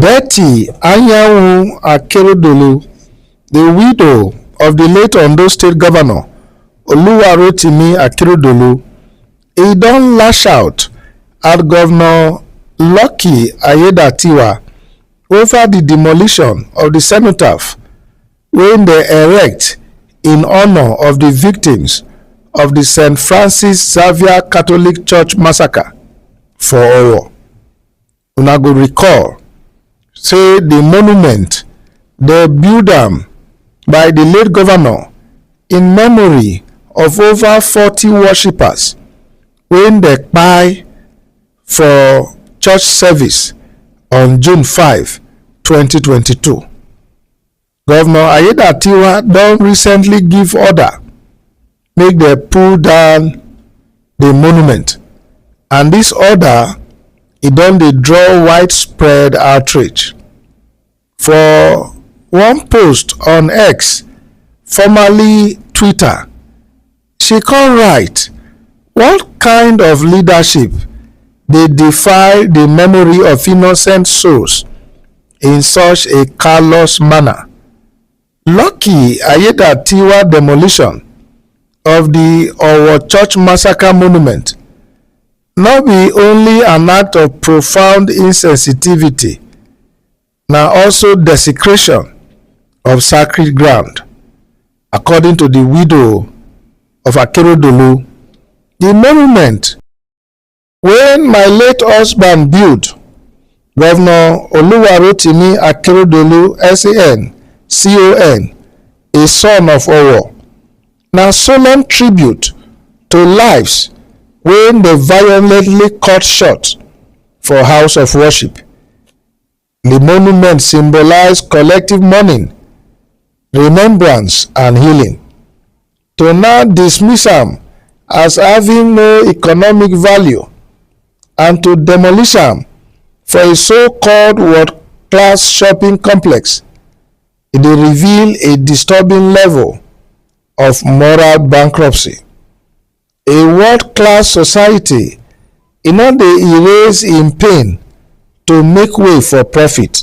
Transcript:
Betty Anyanwu Akeredolu, di widow of di late Ondo State Govnor Oluwarotimi Akeredolu, e don lash out at Govnor Lucky Aiyedatiwa ova di demolition of di cenotaph wey dem erect in honour of di victims of di St Francis Xavier Catholic Church massacre for Owo. una go recall say di monument dey build am by di late governor in memory of over forty worshippers wey dey kpai for church service on june five twenty twenty two. Governor Aiyedatiwa don recently give order make dem pull down the monument and this order e don dey draw widespread outrage. For one post on X, formerly Twitter, She come write, What kind of leadership dey defile di memory of innocent souls in such a callous manner? Lucky Aiyedatiwa demolition of di Owo Church Massacre Monument no be only an act of profound insensitivity, na also desecration of sacred ground according to di widow of akeredolu di monument wey my late husband build govnor oluwarotimi akeredolu san con a son of owo na solemn tribute to lives wey dem violently cut short for house of worship Di monument symbolize collective mourning, remembrance and healing. To now dismiss am as having no economic value and to demolish am for a so-called world-class shopping complex e dey reveal a disturbing level of moral bankruptcy. A world-class society e no dey erase im pain to make way for profit.